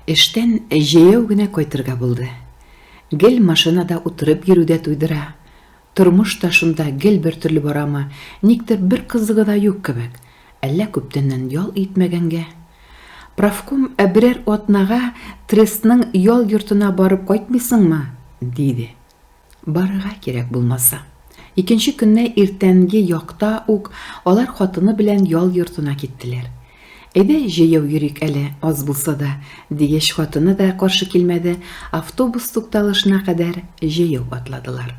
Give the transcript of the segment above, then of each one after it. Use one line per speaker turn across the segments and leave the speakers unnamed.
Эштән җәяү генә кайтырга булды. Гел машинада утырып йөрү дә туйдыра. Тормыш та шунда гел бертөрле барамы, никтер бер кызыгы да юк кебек, әллә күптәннән ял итмәгәнгә? Профком берәр атнага трестның ял йортына барып кайтмыйсыңмы? диде. Барырга кирәк булмаса. Икенче көнне иртәнге якта ук алар хатыны белән ял йортына киттеләр. Әйдә, җәяү йөрик әле, аз булса да, дигәч, хатыны да каршы килмәде, автобус тукталышына кадәр җәяү атладылар.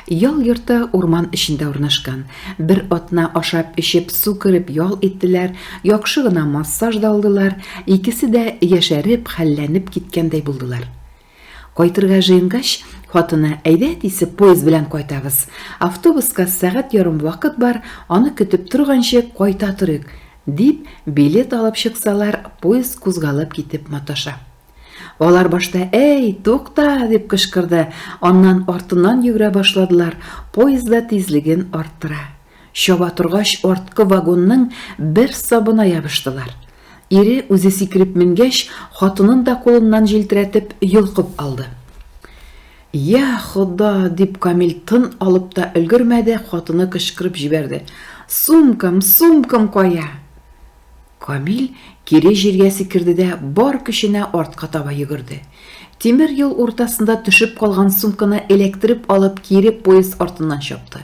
Ял йорты урман эчендә урнашкан. Бер атна ашап-эчеп, су кереп ял иттеләр, яхшы гына массаж да алдылар, икесе дә яшәреп, хәлләнеп киткәндәй булдылар. Кайтырга җыенгач, хатыны, әйдә әтисе, поезд белән кайтабыз. Автобуска сәгать ярым вакыт бар, аны көтеп торганчы кайта торыйк, дип, билет алып чыксалар, поезд кузгалып китеп маташа. Алар башта әй, тукта, дип кычкырды, аннан артыннан йөгерә башладылар, поезд да тизлеген арттыра. Чаба торгач, арткы вагонның бер сабына ябыштылар. Ире, үзе сикереп менгәч, хатынын да кулыннан җилтерәтеп, йолкып алды. Йә, Хода, дип Камил тын алып та өлгермәде, хатыны кычкырып җибәрде. Сумкам, сумкам кая? Камил кире җиргә сикерде дә бар көченә артка таба йөгерде. Тимер юл уртасында төшеп калган сумканы эләктереп алып кире поезд артыннан чапты.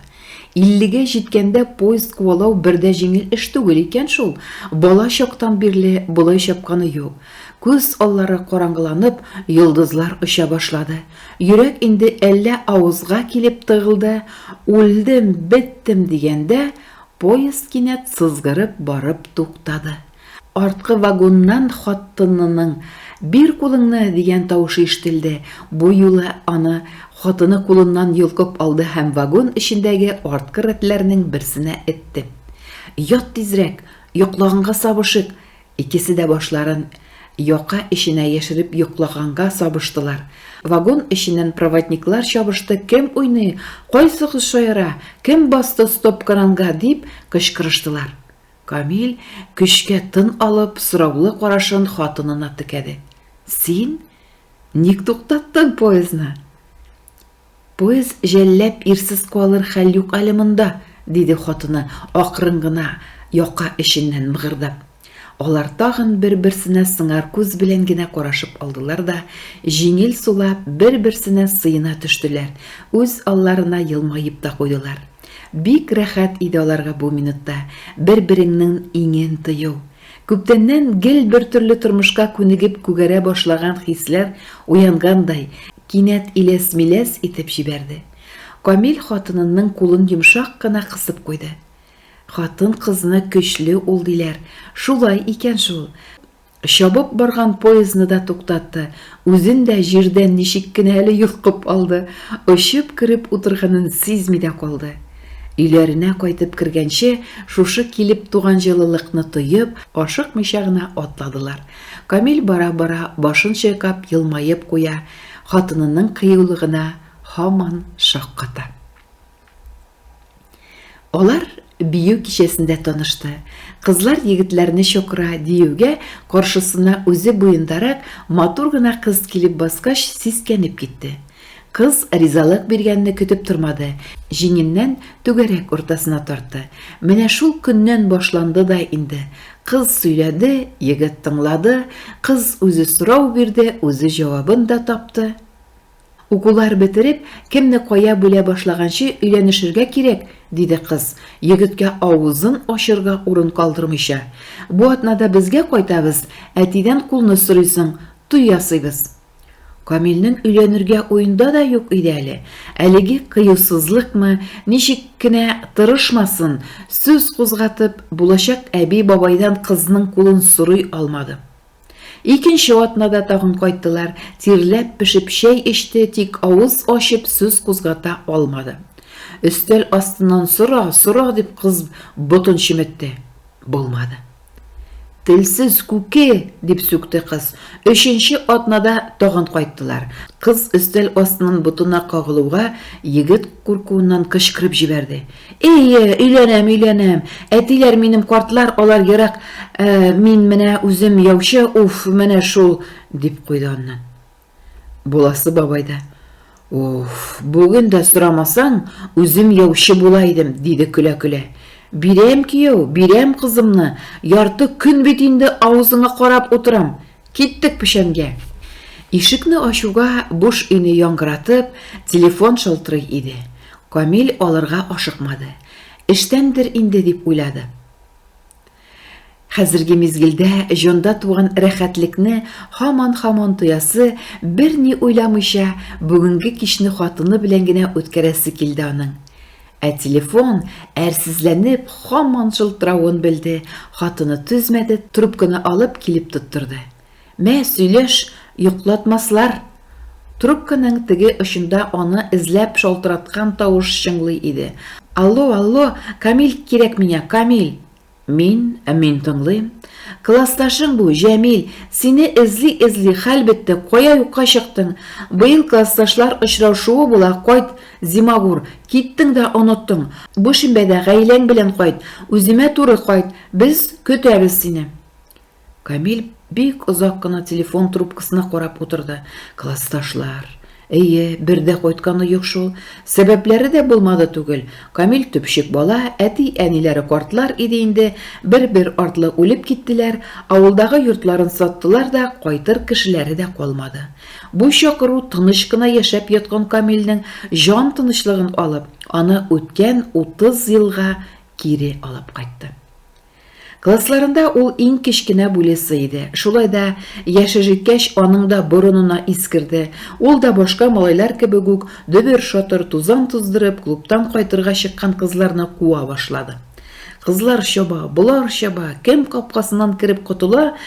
Иллегә җиткәндә поезд куалау бер дә җиңел эш түгел икән шул, бала чактан бирле болай чапканы юк. Күз аллары караңгыланып, йолдызлар оча башлады. Йөрәк инде әллә авызга килеп тыгылды, үлдем, беттем дигәндә, Поезд кинәт сызгырып барып туктады. Арткы вагоннан хаттынының, Бир кулыңны! дигән тавышы ишетелде. Бу юлы аны хатыны кулыннан йолкып алды һәм вагон эчендәге арткы рәтләрнең берсенә этте. Ят тизрәк! Йоклаганга сабышык! Икесе дә башларын яка эченә яшереп йоклаганга сабыштылар. Вагон эченнән проводниклар чабышты, кем уйный, кайсы кыз шаяра, кем басты стоп-кранга, дип кычкырыштылар. Камил, көчкә тын алып, сораулы карашын хатынына текәде. Син? Ник туктаттың поездны? Поезд җәлләп ирсез калыр хәл юк әле монда, диде хатыны, акрын гына яка эченнән мыгырдап. Алар тагын бер-берсенә сыңар күз белән генә карашып алдылар да, җиңел сулап, бер-берсенә сыена төштеләр, үз алларына елмаеп та куйдылар. Бик рәхәт иде аларга бу минутта бер-береңнең иңен тою. Күптәннән гел бертөрле тормышка күнегеп күгәрә башлаган хисләр уянгандай, кинәт иләс-миләс итеп җибәрде. Камил хатынынның кулын йомшак кына кысып куйды. Хатын-кызны көчле ул диләр, шулай икән шул. Чабып барган поездны да туктатты, үзен дә җирдән ничек кенә әле йолкып алды, очып кереп утырганын сизми дә калды. Өйләренә кайтып кергәнче, шушы килеп туган җылылыкны тоеп, ашыкмыйча гына атладылар. Камил бара-бара башын чайкап, елмаеп куя, хатынының кыюлыгына һаман шакката. Алар бию кичәсендә танышты. Кызлар егетләрне чакыра диюгә, каршысына үзе буендарак матур гына кыз килеп баскач, сискәнеп китте. Кыз ризалык биргәнне көтеп тормады, җиңеннән түгәрәк уртасына тартты. Менә шул көннән башланды да инде. Кыз сөйләде, егет тыңлады, кыз үзе сорау бирде, үзе җавабын да тапты. Укулар бетереп, кемне кая бүлә башлаганчы өйләнешергә кирәк, диде кыз, егеткә авызын ачырга урын калдырмыйча. Бу атнада безгә кайтабыз, әтидән кулны сорыйсың, туй ясыйбыз. Камилнең өйләнергә уенда да юк иде әле. Әлеге кыюсызлыкмы, ничек кенә тырышмасын, сүз кузгатып, булачак әби-бабайдан кызның кулын сорый алмады. Икенче атнада тагын кайттылар, тирләп-пешеп чәй эчте, тик авыз ачып сүз кузгата алмады. Өстәл астыннан сора, сора дип кыз ботын чеметте. Булмады. Телсез күке! дип сүкте кыз. Өченче атнада тагын кайттылар. Кыз өстәл астыннан ботына кагылуга, егет куркуыннан кычкырып җибәрде. Эйе, өйләнәм, өйләнәм! Әтиләр минем картлар, алар ерак, ә мин менә үзем яучы, уф, менә шул! дип куйды аннан. Буласы бабай да, Уф, бүген дә сорамасаң, үзем яучы була идем, диде көлә-көлә. Бирәм кияү, бирәм кызымны, ярты көн бит инде авызыңа карап утырам. Киттек печәнгә. Ишекне ачуга буш өйне яңгыратып, телефон шалтырый иде. Камил алырга ашыкмады. Эштәндер инде дип уйлады. Хәзерге мизгелдә җанда туган рәхәтлекне һаман-һаман тоясы, берни уйламыйча, бүгенге кичне хатыны белән генә үткәрәсе килде аның. Ә телефон, әрсезләнеп, һаман шылтыравын белде, хатыны түзмәде, трубканы алып, килеп тоттырды. Мә, сөйләш, йоклатмаслар! Трубканың теге очында аны эзләп шалтыраткан тавыш чыңлый иде. Алло, алло, Камил кирәк миңа, Камил! Мин, мин тыңлыйм. Классташың бу, Җәмил, сине эзли-эзли хәл бетте, кая юкка чыктың? Быел классташлар очраушуы була, кайт, зимагур, киттең дә оныттың. Бу шимбәдә гаиләң белән кайт, үземә туры кайт, без көтәбез сине. Камил бик озак кына телефон трубкасына карап утырды. Классташлар. Әйе, бер дә кайтканы юк шул. Сәбәпләре дә булмады түгел. Камил төпчек бала, әти-әниләре картлар иде инде, бер-бер артлы үлеп киттеләр, авылдагы йортларын саттылар да, кайтыр кешеләре дә калмады. Бу чакыру тыныч кына яшәп яткан Камилнең җан тынычлыгын алып, аны үткән 30 елга кире алып кайтты. Классларында ул иң кечкенә бүлесе иде. Шулай да яше җиткәч, аның да борынына ис керде. Ул да башка малайлар кебек үк дөбер-шатыр тузан туздырып, клубтан кайтырга чыккан кызларны куа башлады. Кызлар чаба, болар чаба, кем капкасыннан кереп котыла,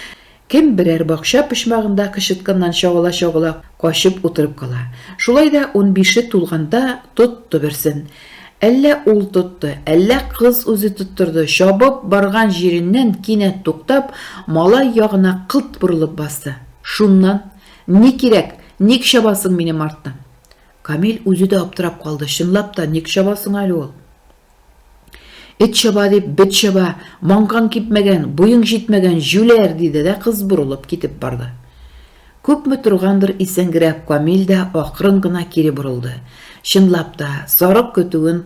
Кем берәр бакча почмагында кычытканнан чагыла-чагыла качып утырып кала. Шулай да унбише тулганда тотты берсен. Әллә ул тотты, әллә кыз үзе тоттырды, чабып барган җиреннән кинәт туктап, малай ягына кылт борылып басты. Шуннан, Ни кирәк, ник чабасың минем арттан? Камил үзе дә аптырап калды, чынлап та, ник чаба соң әле ул? Эт чаба дип, бет чаба, маңкаң кипмәгән, буең җитмәгән, җүләр, диде дә кыз борылып китеп барды. Күпме торгандыр исәнгерәк Камил дә акрын гына кире борылды. Чынлап та, сарык көтүен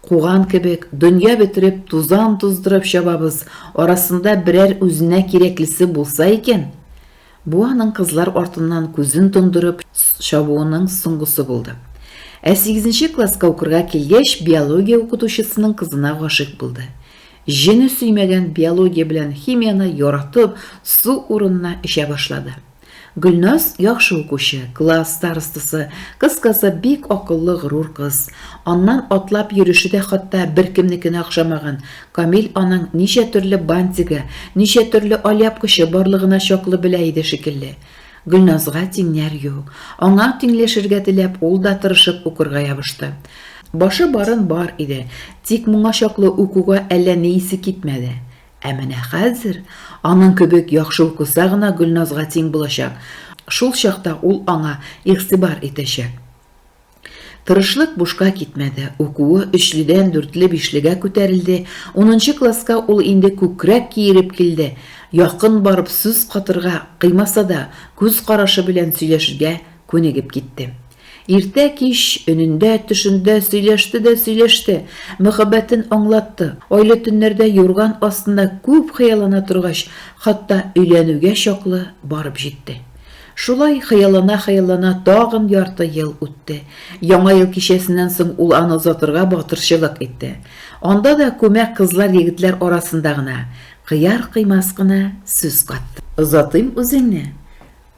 куган кебек, дөнья бетереп, тузан туздырып чабабыз, арасында берәр үзенә кирәклесе булса икән, Бу аның кызлар артыннан күзен тондырып чабуының соңгысы булды. Ә сигезенче класска укырга килгәч, биология укытучысының кызына гашыйк булды. Җене сөймәгән биология белән химияне яратып, су урынына эчә башлады. Гөлназ, яхшы укучы, класс старостасы, кыскасы, бик акыллы, горур кыз. Аннан атлап йөреше дә хатта беркемнекенә охшамаган, Камил аның ничә төрле бантигы, ничә төрле алъяпкычы барлыгына чаклы белә иде шикелле. Гөлназга тиңнәр ю. Аңа тиңләшергә теләп, ул да тырышып укырга ябышты. Башы барын бар иде, тик моңа чаклы укуга әллә ни исе китмәде. Ә менә хәзер аның кебек яхшы укыса гына Гөлназга тиң булачак, шул чакта ул аңа игътибар итәчәк. Тырышлык бушка китмәде. Укуы өчледән дүртле-бишлегә күтәрелде. Унынчы класска ул инде күкрәк киереп килде. Якын барып сүз катырга, кыймаса да, күз карашы белән сөйләшергә күнегеп китте. Иртә-кич, өнендә-төшендә сөйләште дә сөйләште, мөхәббәтен аңлатты. Айлы төннәрдә юрган астында күп хыяллана торгач, хатта өйләнүгә чаклы барып җитте. Шулай хыяллана-хыяллана тагын ярты ел үтте. Яңа ел кичәсеннән соң ул аны озатырга батырчылык итте. Анда да күмәк кызлар-егетләр арасында гына, кыяр-кыймас кына сүз катты. Озатыйм үзеңне.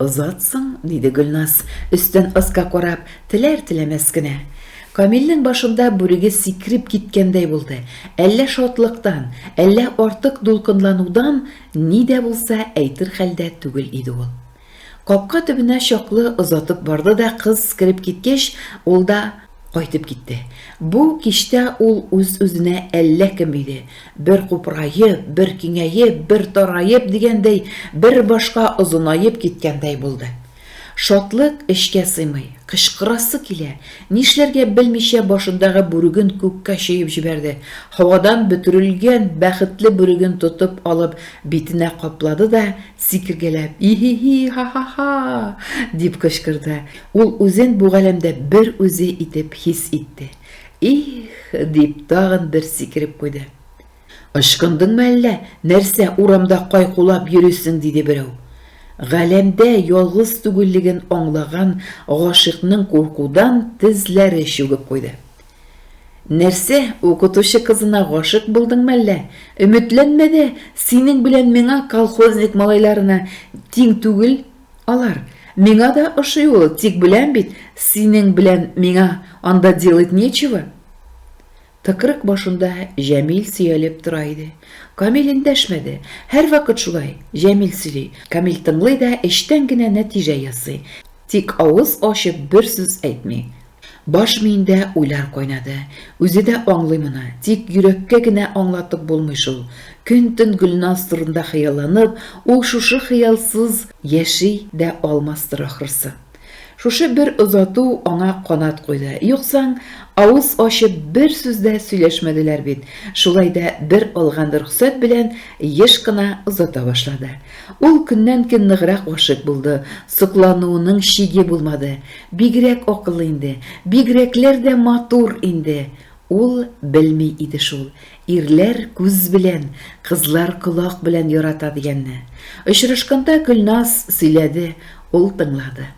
Озатсаң, диде Гөлназ, өстән аска карап, теләр-теләмәс кенә. Камилнең башында бүреге сикереп киткәндәй булды. Әллә шатлыктан, әллә артык дулкынланудан Ни дә булса әйтер хәлдә түгел иде ул. Капка төбенә чаклы озатып барды да кыз кереп киткәч, ул да кайтып китте. Бу кичтә ул үз-үзенә әллә кем иде, бер купыраеп, бер киңәеп, бер тараеп дигәндәй, бер башка озынаеп киткәндәй булды. Шатлык эчкә сыймый, кычкырасы килә. Нишләргә белмичә башындагы бүреген күккә чөеп җибәрде. Һавадан бөтерелгән бәхетле бүреген тотып алып битенә каплады да, сикергәләп, И-һи-һи-һа-һа-һа! дип кычкырды. Ул үзен бу галәмдә бер үзе итеп хис итте. Их! дип тагын бер сикереп куйды. Ычкындыңмы әллә, нәрсә урамда кайкулап йөрисең, диде берәү. Галәмдә ялгыз түгеллеген аңлаган гашыйкның куркудан тезләре чүгеп куйды. Нәрсә, укытучы кызына гашыйк булдыңмы әллә? Өметләнмә дә, синең белән миңа колхозник малайларына тиң түгел алар. Миңа да ошый ул, тик беләм бит, синең белән миңа анда делать нечего. Тыкрык башында Җәмил сөялеп тора иде. Камил эндәшмәде. Һәрвакыт шулай, Җәмил сөйли, Камил тыңлый да эчтән генә нәтиҗә ясый, тик авыз ачып бер сүз әйтми. Баш миендә уйлар кайнады. Үзе дә аңлый моны, тик йөрәккә генә аңлатып булмый шул. Көн-төн Гөлназ турында хыялланып, ул шушы хыялсыз яши дә алмастыр, ахрысы. Шушы бер озату аңа канат куйды. Юксаң, авыз ачып бер сүз дә сөйләшмәделәр бит. Шулай да бер алган рөхсәт белән еш кына озата башлады. Ул көннән-көн ныграк гашыйк булды. Соклануының чиге булмады. Бигрәк акыллы инде. Бигрәкләр дә матур инде. Ул белми иде шул, ирләр күз белән, кызлар колак белән ярата дигәнне. Очрашканда Гөлназ сөйләде, ул тыңлады.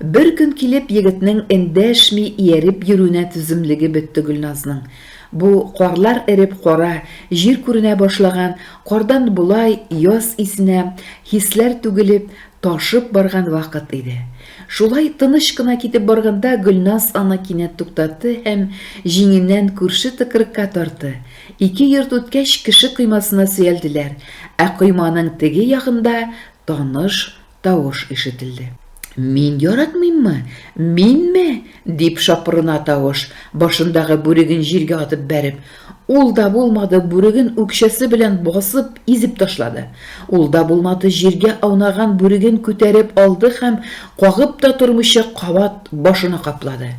Бер көн килеп егетнең эндәшми ияреп йөрүенә түземлеге бетте Гөлназның. Бу карлар эреп кара җир күренә башлаган, кардан болай яз исенә, хисләр түгелеп, Ташып барган вакыт иде. Шулай тыныч кына китеп барганда Гөлназ аны кинәт туктатты һәм җиңеннән күрше тыкрыкка тарды. Ике йорт үткәч, кеше коймасына сөялделәр, ә койманың теге ягында таныш тавыш ишетелде. Мин яратмыйммы? Минме? дип шапырына тавыш, башындагы бүреген җиргә атып бәреп. Ул да булмады, бүреген үкчәсе белән басып, изеп ташлады. Ул да булмады, җиргә аунаган бүреген күтәреп алды һәм, кагып та тормыйча, кабат башына каплады.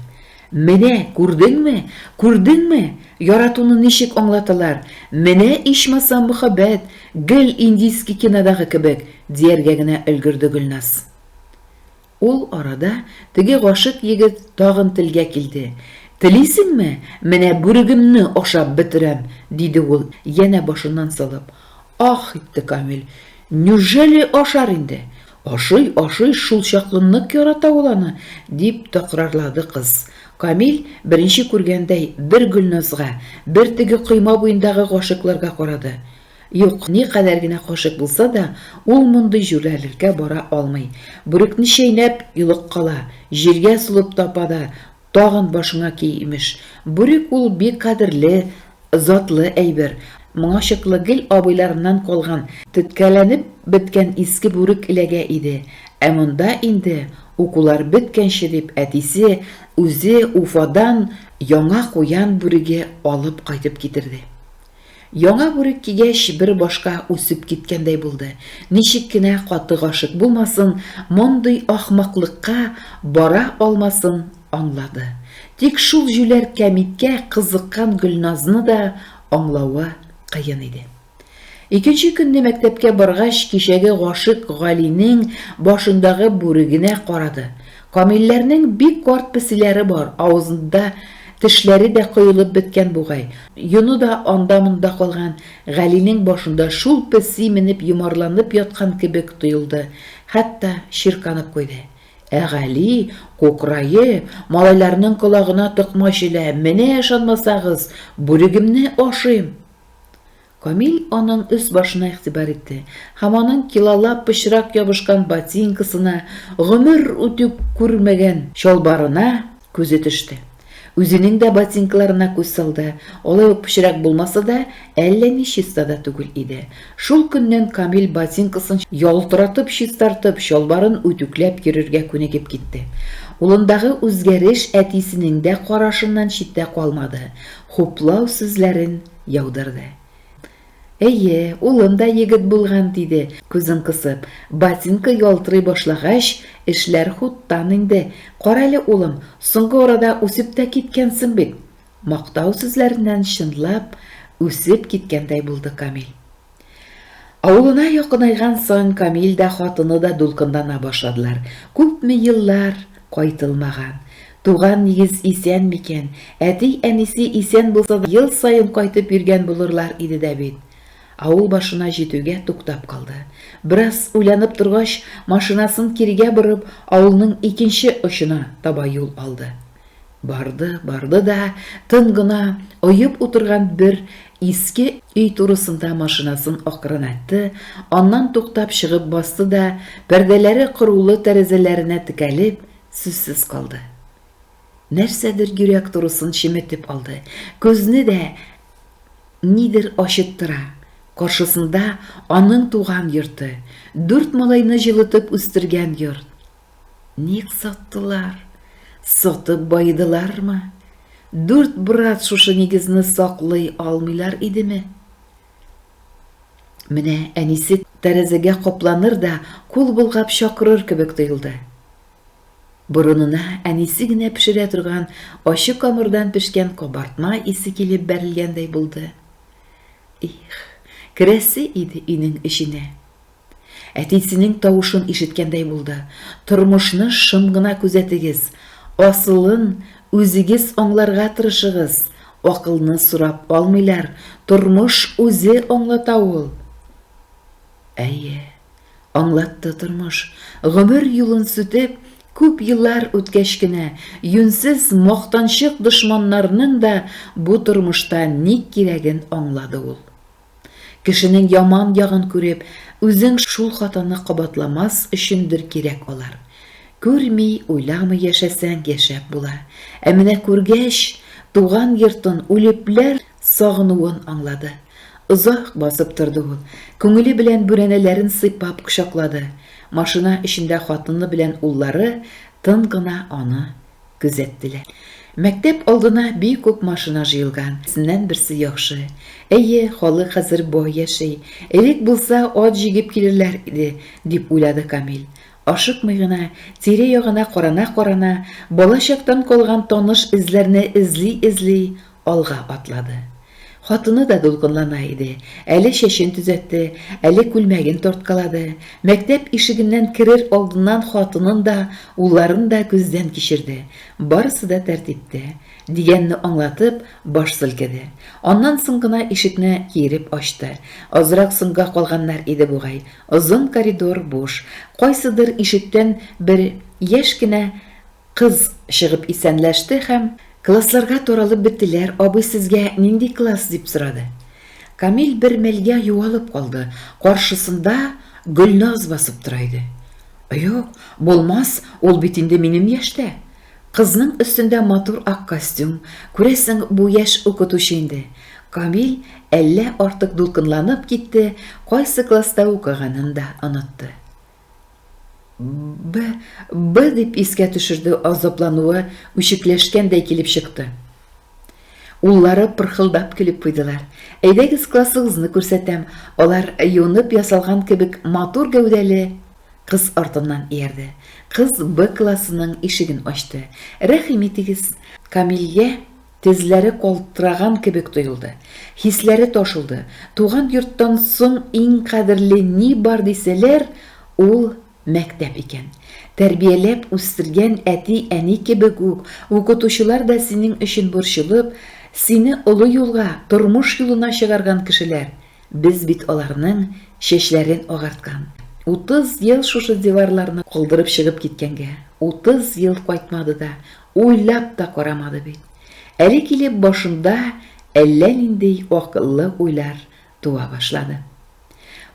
Менә, күрдеңме? Күрдеңме? Яратуны ничек аңлаталар? Менә ичмасам мөхәббәт, гел индийский кинодагы кебек, дияргә генә өлгерде Гөлназ. Ул арада теге гашыйк егет тагын телгә килде. Телисеңме, менә бүрегемне ашап бетерәм, диде ул, янә башыннан сылып. Ах! итте Камил. Нюжели ашар инде? Ашый, ашый, шул чаклы нык ярата ул аны, дип тәкрарлады кыз. Камил, беренче күргәндәй, бер Гөлназга, бер теге койма буендагы гашыйкларга карады. Юк, никадәр генә кашык булса да, ул мондый җүләрлеккә бара алмый. Бүрекне чәйнәп, йолыккала, җиргә сулып тапа да, тагын башыңа ки, имеш. Бүрек ул бик кадерле, затлы әйбер. Моңа чаклы гел абыйларыннан калган, теткәләнеп беткән иске бүрек эләгә иде. Ә монда инде, укулар беткәнче дип, әтисе үзе Уфадан яңа куян бүреге алып кайтып китерде. Яңа бүрек кигәч, бер башка үсеп киткәндәй булды. Ничек кенә каты гашыйк булмасын, мондый ахмаклыкка бара алмасын аңлады. Тик шул җүләр Кәмиткә кызыккан Гөлназны да аңлавы кыен иде. Икенче көнне мәктәпкә баргач, кичәге гашыйк Галинең башындагы бүрегенә карады. Камилләрнең бик карт песиләре бар, авызында тешләре дә коелып беткән бугай. Йоны да анда-монда калган. Галинең башында шул песи менеп йомарланып яткан кебек тоелды, хәтта чирканып куйды. Ә Гали, кукраеп, малайларның колагына токмач элә, Менә ышанмасагыз, бүрегемне ашыйм! Камил аның өс-башына игътибар итте һәм аның килалап пычрак ябышкан ботинкасына, гомер үтү күрмәгән чалбарына күзе төште. Үзенең дә ботинкаларына күз салды, алай ук пычрак булмаса да, әллә ни чиста да түгел иде. Шул көннән Камил ботинкасын ялтыратып-чистартып, чалбарын үтүкләп йөрергә күнегеп китте. Улындагы үзгәреш әтисенең дә карашыннан читтә калмады, хуплау сүзләрен Яудырды. Әйе, улым да егет булган, диде, күзен кысып. Ботинка ялтырый башлагач, эшләр хуттан инде. Карале, улым, соңгы арада үсеп тә киткәнсең бит. Мактау сүзләреннән чынлап үсеп киткәндәй булды Камил. Авылына якынайган саен Камил дә, хатыны да дулкынлана башладылар. Күпме еллар кайтылмаган. Туган нигез исән микән? Әти-әнисе исән булса да, ел саен кайтып йөргән булырлар иде дә бит. Авыл башына җитүгә туктап калды. Бераз уйланып торгач, машинасын кирегә борып, авылның икенче очына таба юл алды. Барды, барды да, тын гына оеп утырган бер иске өй турысында машинасын акрынайтты, аннан туктап чыгып басты да, пәрдәләре кырулы тәрәзәләренә текәлеп, сүзсез калды. Нәрсәдер йөрәк турысын чеметеп алды. Күзне дә нидер ачыттыра. Каршысында аның туган йорты, дүрт малайны җылытып үстергән йорт. Ник саттылар? Сатып баедылармы? Дүрт брат шушы нигезне саклый алмыйлар идеме? Менә әнисе тәрәзәгә капланыр да, кул болгап чакырыр кебек тоелды. Борынына әнисе генә пешерә торган ачы камырдан пешкән кабартма исе килеп бәрелгәндәй булды. Их, керәсе иде өйнең эченә. Әтисенең тавышын ишеткәндәй булды. Тормышны шым гына күзәтегез. Асылын үзегез аңларга тырышыгыз. Акылны сорап алмыйлар, тормыш үзе аңлата ул. Әйе, аңлатты тормыш. Гомер юлын сүтеп, күп еллар үткәч кенә, юньсез мактанчык дошманнарның да бу тормышта ник кирәген аңлады ул. Кешенең яман ягын күреп, үзең шул хатаны кабатламас өчендер кирәк алар. Күрми, уйламый яшәсәң, яшәп була. Ә менә күргәч, туган йортын, үлепләр сагынуын аңлады. Озак басып торды ул. Күңеле белән бүрәнәләрен сыйпап кочаклады. Машина эчендә хатыны белән уллары тын гына аны Күзәттеләр. Мәктәп алдына бик үк машина җыелган. Берсеннән берсе яхшы. Әйе, халык хәзер бай яши. Элек булса, ат җигеп килерләр иде, дип уйлады Камил. Ашыкмый гына, тирә-ягына карана-карана, балачактан калган таныш эзләрне эзли-эзли, Алга атлады. Хатыны да дулкынлана иде, әле чәчен төзәтте, әле күлмәген тарткалады. Мәктәп ишегеннән керер алдыннан хатынын да, улларын да күздән кичерде. Барысы да тәртиптә. Дигәнне аңлатып, баш селкеде. Аннан соң гына ишекне киереп ачты. Азрак соңга калганнар иде бугай. Озын коридор буш. Кайсыдыр ишектән бер яшь кенә Кыз чыгып исәнләште һәм, Классларга таралып беттеләр, абый сезгә нинди класс? дип сорады. Камил бер мәлгә югалып калды, каршысында Гөлназ басып тора иде. Юк, булмас, ул бит инде минем яшьтә. Кызның өстендә матур ак костюм, күрәсең, бу яшь укытучы инде. Камил әллә артык дулкынланып китте, кайсы класста укыганын да онытты. Б, Б дип искә төшерде азаплануы үчекләшкәндәй килеп чыкты. Уллары пырхылдап көлеп куйдылар. Әйдәгез классыгызны күрсәтәм. Алар юынып ясалган кебек матур гәүдәле кыз артыннан иярде. Кыз Б классының ишеген ачты. Рәхим итегез, Камилгә Тезләре калтыраган кебек тоелды. Хисләре ташылды. Туган йорттан соң иң кадерле ни бар дисәләр, ул, мәктәп икән. Тәрбияләп үстергән әти-әни кебек үк, укытучылар да синең өчен борчылып, сине олы юлга, тормыш юлына чыгарган кешеләр. Без бит аларның чәчләрен агарткан. Утыз ел шушы диварларны калдырып чыгып киткәнгә, утыз ел кайтмады да, Уйлап та карамады бит. Әле килеп башында әллә нинди акыллы уйлар туа башлады.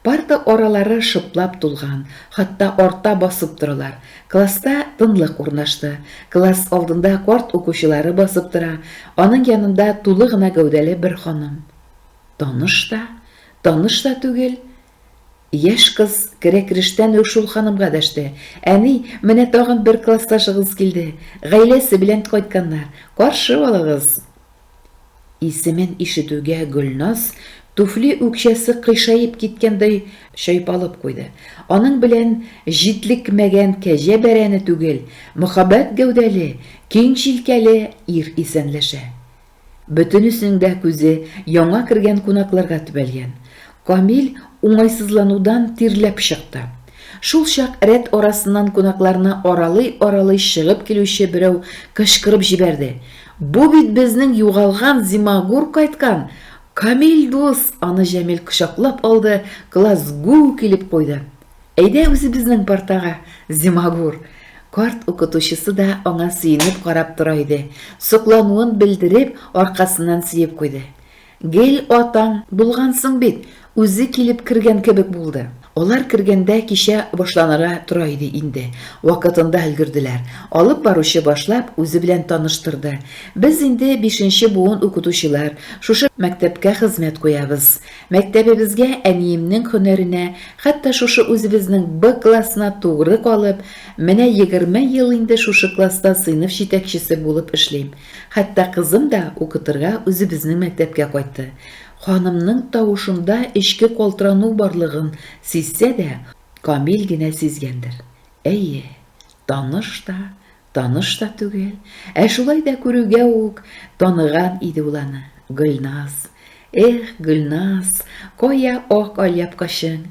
Парта аралары шыплап тулган, хатта арта басып торалар. Класста тынлык урнашты. Класс алдында карт укучылары басып тора, аның янында тулы гына гәүдәле бер ханым. Таныш та, таныш та түгел, Яшь кыз керә-керештән үк шул ханымга дәште, Әни, менә тагын бер классташыгыз килде. Гаиләсе белән кайтканнар. Каршы алыгыз! Исемен ишетүгә Гөлназ туфли үкчәсе кыйшаеп киткәндәй чайпалып куйды. Аның белән җитлекмәгән кәҗә бәрәне түгел, мөхәббәт гәүдәле, киң җилкәле ир исәнләшә. Бөтенесенең дә күзе яңа кергән кунакларга төбәлгән. Камил уңайсызланудан тирләп чыкты. Шул чак рәт арасыннан кунакларны аралый-аралый чыгып килүче берәү кычкырып җибәрде, Бу бит безнең югалган Зимагур кайткан! Камил дус! Аны Җәмил кочаклап алды, класс гү килеп куйды. Әйдә үзебезнең партага, Зимагур! Карт укытучысы да аңа сөенеп карап тора иде, соклануын белдереп, аркасыннан сөеп куйды. Гел атаң булгансың бит, үзе килеп кергән кебек булды. Алар кергәндә кичә башланырга тора иде инде, вакытында өлгерделәр. Алып баручы башлап үзе белән таныштырды. Без инде бишенче буын укытучылар, шушы мәктәпкә хезмәт куябыз. Мәктәбебезгә, әниемнең һөнәренә, хәтта шушы үзебезнең Б классына тугры калып, менә егерме ел инде шушы класста сыйныф җитәкчесе булып эшлим. Хәтта кызым да укытырга үзебезнең мәктәпкә кайтты. Ханымның тавышында эчке калтырану барлыгын сизсә дә, Камил генә сизгәндер. Әйе, Таныш та, таныш та түгел, ә шулай да күрүгә үк таныган иде ул аны, Гөлназ. Эх, Гөлназ, кая ак алъяпкычың?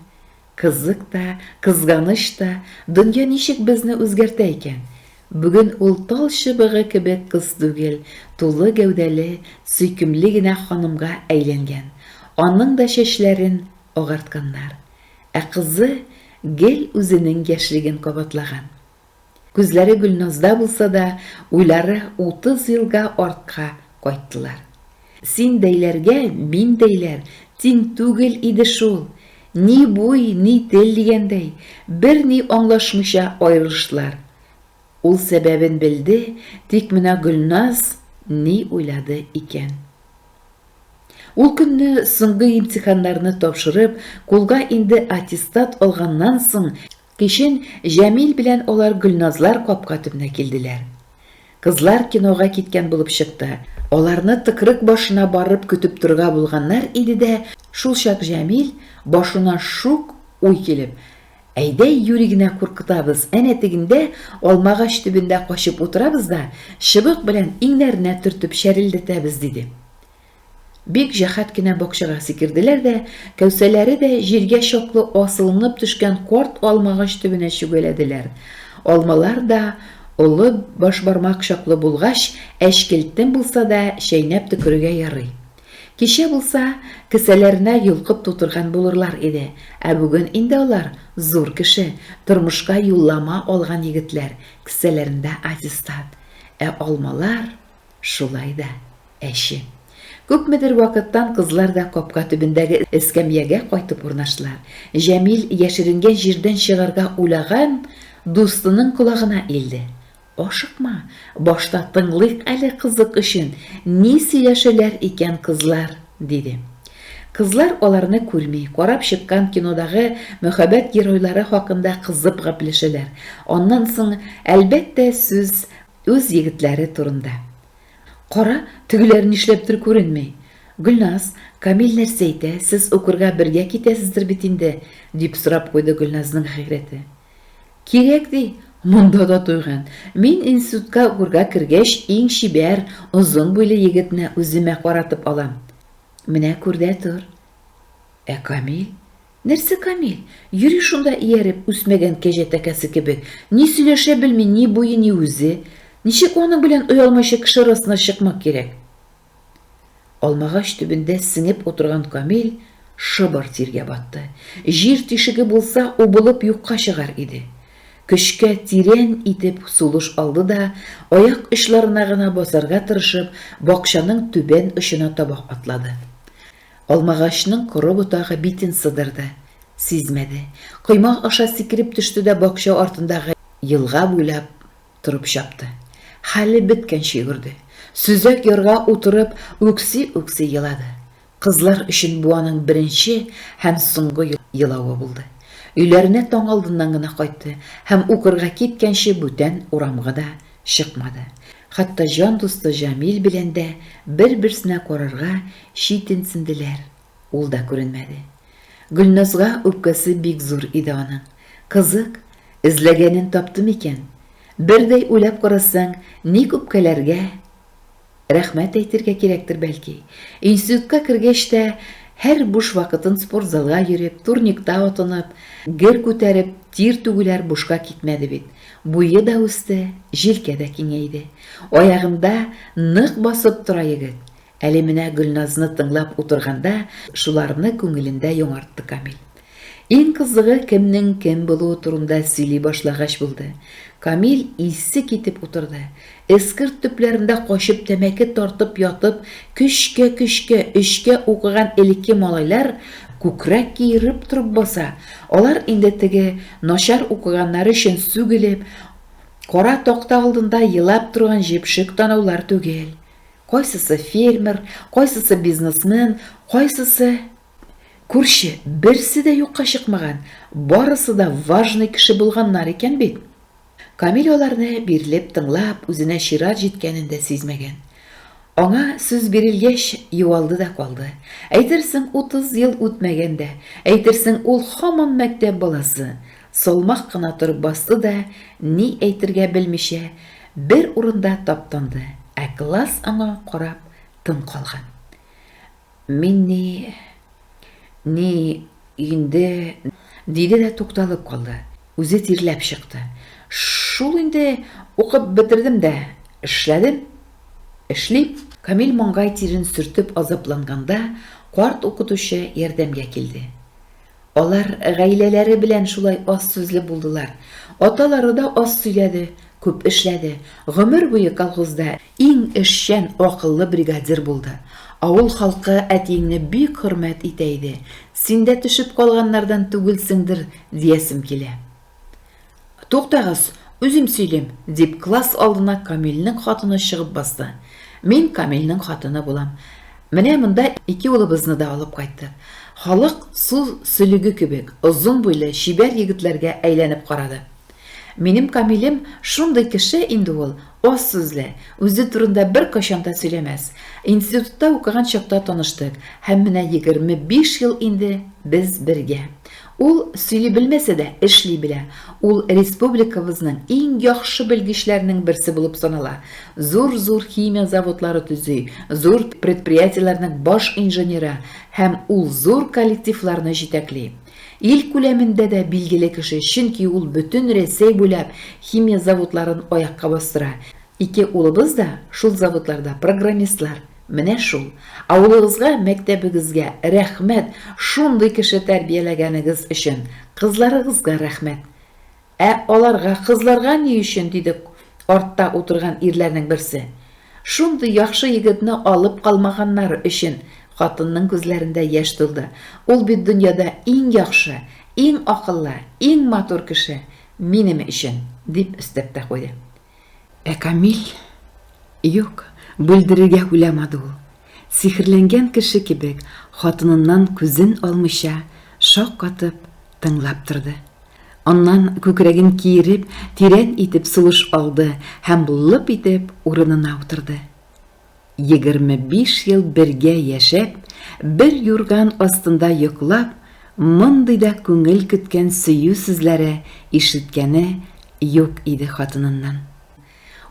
Кызык та, кызганыч та, дөнья ничек безне үзгәртә икән? Бүген ул тал чыбыгы кебек кыз түгел, тулы гәүдәле, сөйкемле генә ханымга әйләнгән. Аның да чәчләрен агартканнар. Ә кызы гел үзенең яшьлеген кабатлаган. Күзләре Гөлназда булса да, уйлары утыз елга артка кайттылар. Син дәйләргә мин дәйләр тиң түгел иде шул! Ни буй, ни тел дигәндәй, берни аңлашмыйча аерылыштылар. Ул сәбәбен белде, тик менә Гөлназ ни уйлады икән? Ул көнне соңгы имтиханнарны тапшырып, кулга инде аттестат алганнан соң, кичен Җәмил белән алар Гөлназлар капка төбенә килделәр. Кызлар кинога киткән булып чыкты. Аларны тыкрык башына барып көтеп торырга булганнар иде дә, шулчак Җәмил башына шук уй килеп. Әйдә, юри генә куркытабыз, әнә тегендә, алмагач төбендә качып утырабыз да, чыбык белән иңнәренә төртеп чәрелдәтәбез, диде. Бик җәһәт кенә бакчага сикерделәр дә, кәүсәләре дә җиргә чаклы асылынып төшкән карт алмагач төбенә чүгәләделәр. Алмалар да олы башбармак чаклы булгач, әчкелтем булса да, чәйнәп төкерергә ярый. Кичә булса, кесәләренә йолкып тутырган булырлар иде, ә бүген инде алар, зур кеше, тормышка юллама алган егетләр, кесәләрендә аттестат. Ә алмалар шулай да әче. Күпмедер вакыттан кызлар да капка төбендәге эскәмиягә кайтып урнаштылар. Җәмил яшеренгән җирдән чыгарга уйлаган дустының колагына илде. Ашыкма, башта тыңлыйк әле кызык өчен, ни сөйләшәләр икән кызлар, диде. Кызлар аларны күрми, карап чыккан кинодагы мөхәббәт геройлары хакында кызып гәпләшәләр. Аннан соң, әлбәттә, сүз үз егетләре турында. Кара, тегеләр нишләптер күренми. Гөлназ, Камил нәрсә әйтә, сез укырга бергә китәсездер бит инде? дип сорап куйды Гөлназның хәйрәте. Кирәк, ди, монда да туйган. Мин институтка укырга кергәч, иң чибәр, озын буйлы егетне үземә каратып алам. Менә күр дә тор. Ә Камил? Нәрсә Камил? Йөри шунда ияреп, үсмәгән кәҗә тәкәсе кебек. Ни сөйләшә белми, ни буе, ни үзе. Ничек аның белән оялмыйча кеше арасына чыкмак кирәк? Алмагач төбендә сеңеп утырган Камил шыбыр тиргә батты. Җир тишеге булса, убылып юкка чыгар иде. Көчкә тирән итеп сулыш алды да, аяк очларына гына басарга тырышып, бакчаның түбән очына таба атлады. Алмагачның коры ботагы битен сыдырды. Сизмәде. Койма аша сикереп төште дә бакча артындагы елга буйлап Торып чапты. Хәле беткәнче йөгерде. Сөзәк ярга утырып, үкси-үкси елады. Кызлар өчен бу аның беренче һәм соңгы елавы булды. Өйләренә таң алдыннан гына кайтты һәм укырга киткәнче бүтән урамга да чыкмады. Хәтта җан дусты Җамил белән дә бер-берсенә карарга читенсенделәр. Ул да күренмәде. Гөлназга үпкәсе бик зур иде аның. Кызык, эзләгәнен тапты микән? Бердәй уйлап карасаң, ник үпкәләргә? Рәхмәт әйтергә кирәктер, бәлки. Институтка кергәч тә, һәр буш вакытын спортзалга йөреп, турникта атынып, гер күтәреп, тир түгүләр бушка китмәде бит. Буе да үсте, җилкә дә киңәйде. Аягында нык басып тора егет. Әле менә Гөлназны тыңлап утырганда шуларны күңелендә яңартты Камил. Иң кызыгы кемнең кем булуы турында сөйли башлагач булды. Камил исе китеп утырды. Эскерт төпләрендә качып тәмәке тартып ятып, көчкә-көчкә өчкә укыган элекке малайлар күкрәк киереп торып баса, алар инде теге начар укыганнары өчен сүгелеп, кара такта алдында елап торган җепшек танаулар түгел. Кайсысы фермер, кайсысы бизнесмен, кайсысы күрше, берсе дә юкка чыкмаган, барысы да важный кеше булганнар икән бит. Камил аларны бирелеп тыңлап, үзенә чират җиткәнен дә сизмәгән. Аңа сүз бирелгәч, юалды да калды. Әйтерсең, утыз ел үтмәгән дә, әйтерсең, ул һаман мәктәп баласы. Салмак кына торып басты да, ни әйтергә белмичә, бер урында таптанды, ә класс аңа карап тын калган. Мин ни... ни... инде... диде дә тукталып калды, үзе тирләп чыкты. Шул инде, укып бетердем дә, эшләдем. Эшлим. Камил маңгай тирен сөртеп азапланганда, карт укытучы ярдәмгә килде. Алар гаиләләре белән шулай аз сүзле булдылар. Аталары да аз сөйләде, күп эшләде. Гомер буе колхозда иң эшчән, акыллы бригадир булды. Авыл халкы әтиеңне бик хөрмәт итә иде. Син дә төшеп калганнардан түгелсеңдер, диясем килә. Туктагыз, үзем сөйлим, дип класс алдына Камилнең хатыны чыгып басты. Мин Камилнең хатыны булам. Менә монда ике улыбызны да алып кайттык. Халык су сөлеге кебек озын буйлы чибәр егетләргә әйләнеп карады. Минем Камилем шундый кеше инде ул, аз сүзле, үзе турында беркайчан да сөйләмәс. Институтта укыган чакта таныштык һәм менә егерме биш ел инде без бергә. Ул сөйли белмәсә дә, эшли белә. Ул республикабызның иң яхшы белгечләренең берсе булып санала. Зур-зур химия заводлары төзи, зур предприятиеләрнең баш инженеры һәм ул зур коллективларны җитәкли. Ил күләмендә дә билгеле кеше, чөнки ул бөтен Рәсәй буйлап химия заводларын аякка бастыра. Ике улыбыз да шул заводларда программистлар. Менә шул, авылыгызга, мәктәбегезгә рәхмәт, шундый кеше тәрбияләгәнегез өчен, кызларыгызга рәхмәт. Ә аларга, кызларга ни өчен? диде артта утырган ирләрнең берсе. Шундый яхшы егетне алып калмаганнары өчен, хатынның күзләрендә яшь тулды. Ул бит дөньяда иң яхшы, иң акыллы, иң матур кеше, минем өчен, дип өстәп тә куйды. Ә Камил? Юк, бүлдерергә уйламады ул. Сихерләнгән кеше кебек, хатыныннан күзен алмыйча, шаккатып, тыңлап торды. Аннан күкрәген киереп, тирән итеп сулыш алды һәм лып итеп урынына утырды. 25 ел бергә яшәп, бер юрган астында йоклап, мондый да күңел көткән сөю сүзләре ишеткәне юк иде хатыныннан.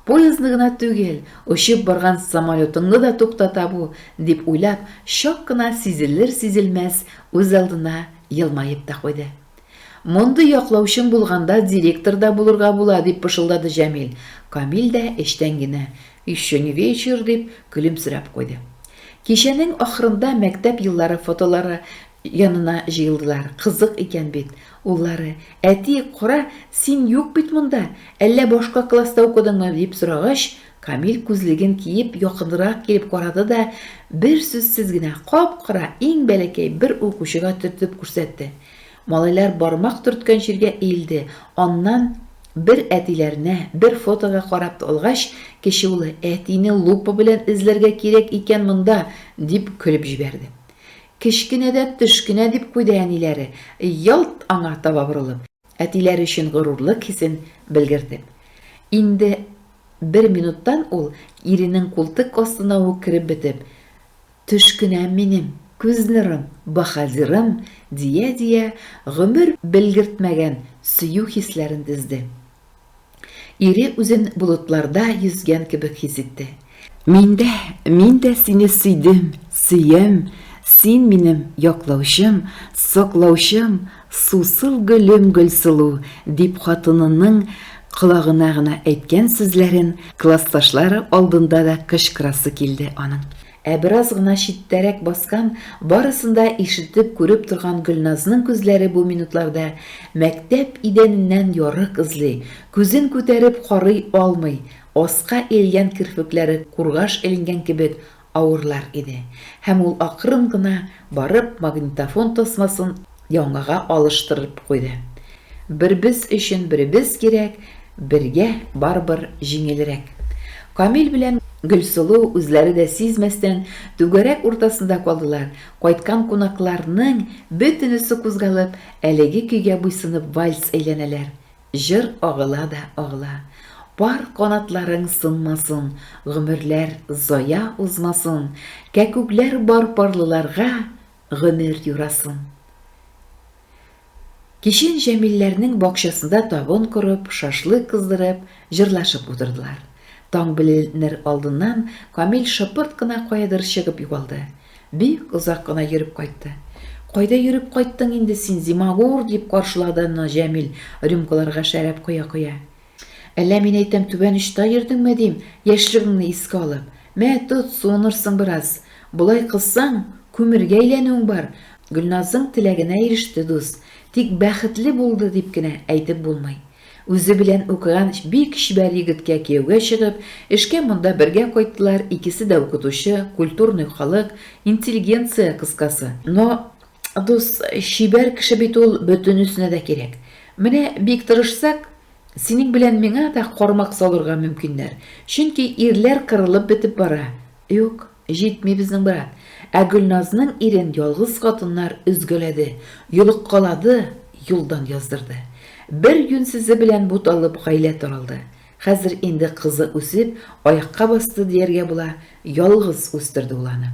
Поездны гына түгел, очып барган самолетыңны да туктата бу, дип уйлап, чак кына сизелер-сизелмәс үзалдына елмаеп та куйды. Мондый яклаучың булганда директор да булырга була, дип пышылдады Җәмил. Камил дә эчтән генә, Еще не вечер, дип көлемсерәп куйды. Кичәнең ахырында мәктәп еллары фотолары янына җыелдылар. Кызык икән бит. Уллары, Әти, кара, син юк бит монда, әллә башка класста укыдыңмы? дип сорагач, Камил күзлеген киеп якынрак килеп карады да, берсүзсез генә кап-кара иң бәләкәй бер укучыга төртеп күрсәтте. Малайлар бармак төрткән җиргә иелде, аннан Бер әтиләренә, бер фотога карап алгач, кече улы, Әтине лупа белән эзләргә кирәк икән монда, дип көлеп җибәрде. Кечкенә дә төш кенә, дип куйды әниләре, ялт аңа таба борылып, әтиләре өчен горурлык хисен белгертеп. Инде бер минуттан ул, иренең култык астына ук кереп бетеп, Төш кенә минем, күз нурым, баһадирым, дия-дия, гомер белгертмәгән сөю хисләрен тезде. Ире үзен болытларда йөзгән кебек хис итте. Мин дә, мин дә сине сөйдем, сөям, син минем яклаучым, саклаучым, Сусыл гөлем Гөлсылу, дип хатынының колагына гына әйткән сүзләрен классташлары алдында да кычкырасы килде аның. Ә бераз гына читтәрәк баскан, барысын да ишетеп, күреп торган Гөлназның күзләре бу минутларда мәктәп идәненнән ярык эзли, күзен күтәреп карый алмый, аска иелгән керфекләре кургаш эленгән кебек авырлар иде һәм ул акрын гына барып магнитофон тасмасын яңага алыштырып куйды. Бербез өчен беребез кирәк, бергә барыбер җиңелрәк. Камил белән Гөлсылу үзләре дә сизмәстән түгәрәк уртасында калдылар, кайткан кунакларның бөтенесе кузгалып, әлеге көйгә буйсынып вальс әйләнәләр, Җыр агыла да агыла. Пар канатларың сынмасын, гомерләр зая узмасын, кәкүкләр бар парлыларга гомер юрасын. Кичен Җәмилләрнең бакчасында табын корып, шашлык кыздырып, җырлашып утырдылар. Таң беленер алдыннан Камил шыпырт кына каядыр чыгып югалды. Бик озак кына йөреп кайтты. Кайда йөреп кайттың инде син, зимагур, дип каршылады аны Җәмил, рюмкаларга шәраб коя-коя. Әллә мин әйтәм, түбән очта йөрдеңме, дим, яшьлегеңне искә алып. Мә, тот, суынырсың бераз. Болай кылсаң, күмергә әйләнүең бар. Гөлназың теләгенә иреште, дус. Тик бәхетле булды, дип кенә әйтеп булмый. Үзе белән укыган бик чибәр егеткә кияүгә чыгып, эшкә монда бергә кайттылар, икесе дә укытучы, культурный халык, интеллигенция кыскасы. Но, дус, чибәр кеше бит ул бөтенесенә дә кирәк. Менә бик тырышсак, синең белән миңа да кармак салырга мөмкиннәр, чөнки ирләр кырылып бетеп бара. Юк. Җитми безнең брат. Ә Гөлназның ирен ялгыз хатыннар өзгәләде, йолыккалады, юлдан яздырды. Бер юньсезе белән буталып гаилә таралды. Хәзер инде кызы үсеп, аякка басты дияргә була, ялгыз үстерде ул аны.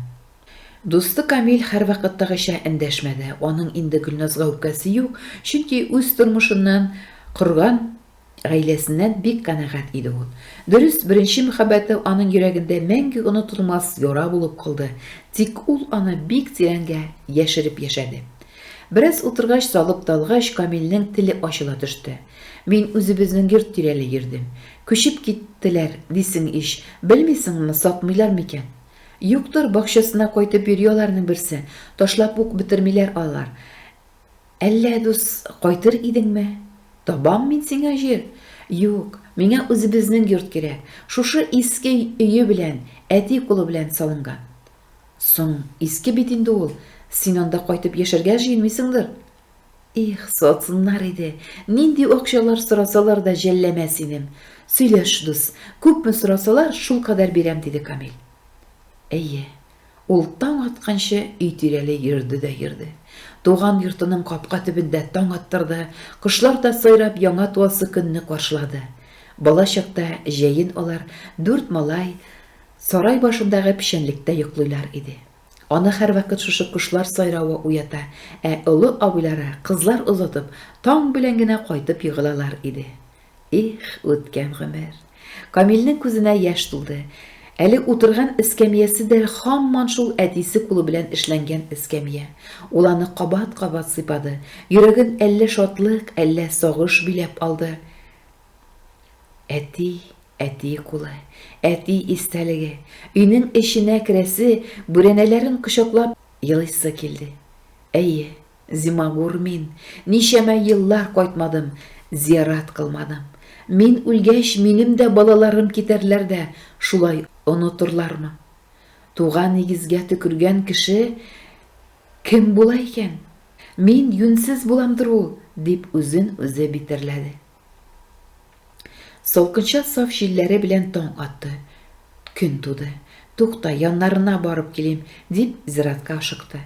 Дусты Камил һәрвакыттагыча эндәшмәде, аның инде Гөлназга үпкәсе юк, чөнки үз тормышыннан корган, Гаиләсеннән бик канәгать иде ул. Дөрес, беренче мәхәббәте аның йөрәгендә мәңге онытылмас яра булып калды, тик ул аны бик тирәнгә яшереп яшәде. Бераз утыргач, залып та алгач, Камилнең теле ачыла төште. Мин үзебезнең йорт тирәли йөрдем. Күчеп киттеләр, дисең ич. Белмисеңме, сатмыйлар микән? Юктыр, бакчасына кайтып йөри аларның берсе. Ташлап ук бетермиләр алар. Әллә, дус, кайтыр идеңме? Табам мин сиңа җир. Юк, миңа үзебезнең йорт кирәк, шушы иске өе белән, әти кулы белән салынган. Соң, иске бит инде ул, син анда кайтып яшәргә җыенмыйсыңдыр? Их, сатсыннар иде, нинди акчалар сорасалар да җәлләмә синем. Сөйләш, дус, күпме сорасалар, шулкадәр бирәм, диде Камил. Әйе, Ул таң атканчы өй тирәли йөрде дә йөрде. Туган йортының капка төбендә таң аттырды, кошлар да сайрап яңа туасы көнне каршылады. Бала чакта җәен алар, дүрт малай, сарай башындагы печәнлектә йоклыйлар иде. Аны һәрвакыт шушы кошлар сайравы уята, ә олы абыйлары, кызлар озатып, таң белән генә кайтып егылалар иде. Их, үткән гомер! Камилнең күзенә яшь тулды. Әле утырган эскәмиясе дә һаман шул әтисе кулы белән эшләнгән эскәмия. Ул аны кабат-кабат сыйпады. Йөрәген әллә шатлык, әллә сагыш биләп алды. Әти, әти кулы, әти истәлеге. Өйнең эченә керәсе, бүрәнәләрен кочаклап елыйсы килде. Әйе, Зимагур мин, ничәмә еллар кайтмадым, зиярат кылмадым. Мин үлгәч, минем дә балаларым китәрләр дә шулай онытырлармы? Туган нигезгә төкергән кеше кем була икән? Мин юньсез буламдыр ул, дип үзен-үзе битәрләде. Салкынча саф җилләре белән таң атты. Көн туды. Тукта, яннарына барып килим, дип зиратка ашыкты.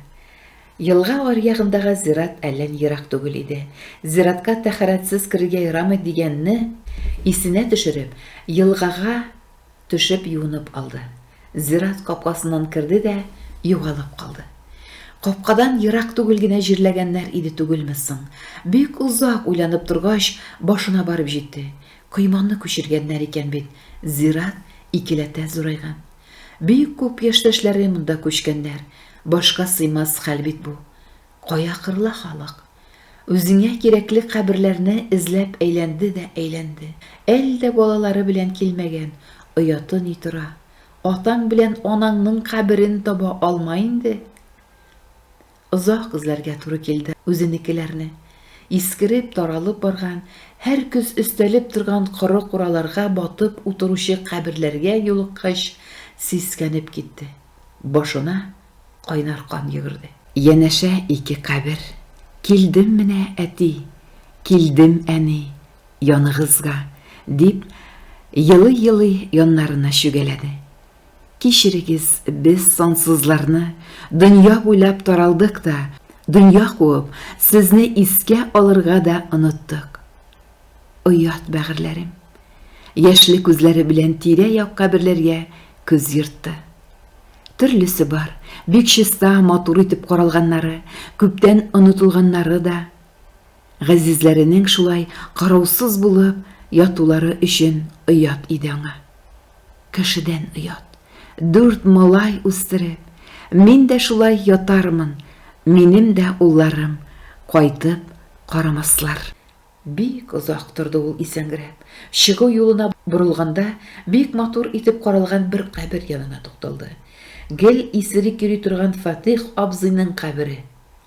Елга аръягындагы зират әллә ни ерак түгел иде. Зиратка тәһарәтсез керергә ярамый дигәнне исенә төшереп, елгага Төшеп юынып алды. Зират капкасыннан керде дә югалып калды. Капкадан ерак түгел генә җирләгәннәр иде түгелме соң? Бик озак уйланып торгач, башына барып җитте. Койманы күчергәннәр икән бит. Зират икеләтә зурайган. Бик күп яшьтәшләре монда күчкәннәр. Башка сыймас хәл бит бу. Кая кырыла халык? Үзеңә кирәкле каберләрне эзләп әйләнде дә әйләнде. Әлдә балалары белән килмәгән, ояты ни тора. Атаң белән анаңның каберен таба алма инде. Озак эзләргә туры килде үзенекеләрне. Искереп, таралып барган, һәр көз өстәлеп торган коры кураларга батып утыручы каберләргә юлыккач, сискәнеп китте. Башына Кайнар кан йөгерде. Янәшә ике кабер. Килдем менә, әти, Килдем, әни, яныгызга, дип, елый-елый яннарына чүгәләде. Кичерегез, без, сансызларны, дөнья буйлап таралдык та, дөнья куып, сезне искә алырга да оныттык. Оят бәгырьләрем. Яшьле күзләре белән тирә-як каберләргә күз йөртте. Төрлесе бар, бик чиста, матур итеп каралганнары, күптән онытылганнары да. Газизләренең шулай караусыз булып ятулары өчен оят иде аңа. Кешедән оят. Дүрт малай үстереп, мин дә шулай ятармын, минем дә улларым кайтып карамаслар. Бик озак торды ул исәңгерәп. Чыгу юлына борылганда, бик матур итеп каралган бер кабер янына тукталды. Гел исерек йөри торган Фатыйх абзыйның кабере.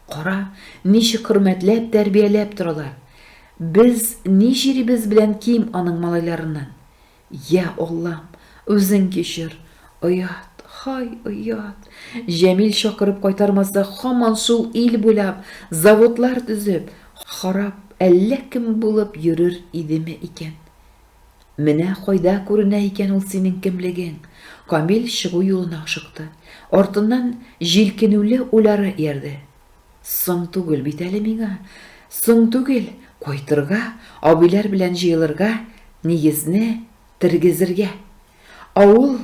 Кара, ничек хөрмәтләп, тәрбияләп торалар. Без ни җирибез белән ким аның малайларыннан. Йа Аллам, үзең кичер! Оят, һай, оят! Җәмил чакырып кайтармаса, һаман шул ил буйлап, заводлар төзеп, харап әллә кем булып йөрер идеме икән? Менә кайда күренә икән ул синең кемлегең! Камил чыгу юлына ашыкты. Артыннан җилкенүле уйлары иярде. Соң түгел бит әле миңа. Соң түгел, кайтырга, абыйлар белән җыелырга, нигезне тергезергә. Авыл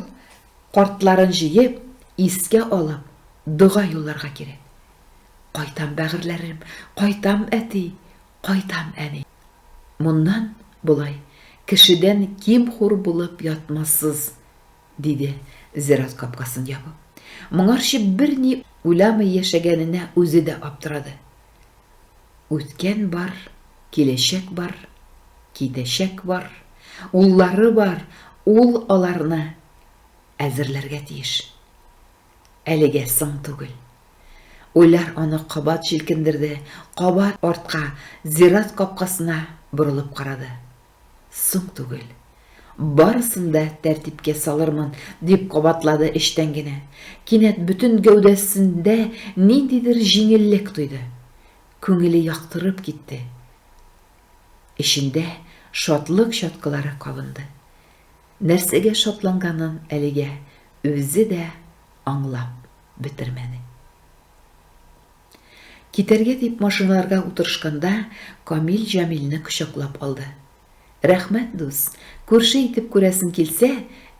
картларын җыеп, искә алып, дога юлларга кирәк. Кайтам, бәгырьләрем, кайтам, әти, кайтам, әни. Моннан болай кешедән ким-хур булып ятмассыз. Диде, зират капкасын ябып. Моңарчы берни уйламый яшәгәненә үзе дә аптырады. Үткән бар, киләчәк бар, китәчәк бар, уллары бар, ул аларны әзерләргә тиеш. Әлегә соң түгел. Уйлар аны кабат җилкендерде, кабат артка, зират капкасына борылып карады. Соң түгел. Барысын да тәртипкә салырмын, дип кабатлады эчтән генә. Кинәт бөтен гәүдәсендә ниндидер җиңеллек тойды. Күңеле яктырып китте. Эчендә шатлык чаткылары кабынды. Нәрсәгә шатланганын әлегә үзе дә аңлап бетермәде. Китәргә дип машиналарга утырышканда, Камил Җамилне кочаклап алды. Рәхмәт, дус! Күрше итеп күрәсең килсә,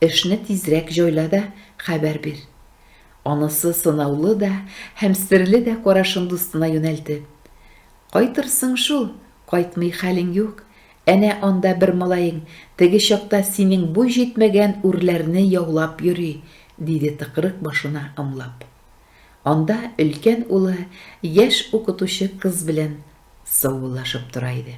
эшне тизрәк җайла да хәбәр бир. Анысы сынаулы да һәм серле дә карашын дустына юнәлтеп. Кайтырсың шул, кайтмый хәлең юк. Әнә анда бер малаең теге чакта синең буй җитмәгән үрләрне яулап йөри, диде тыкрык башына ымлап. Анда өлкән улы яшь укытучы кыз белән саубуллашып тора иде.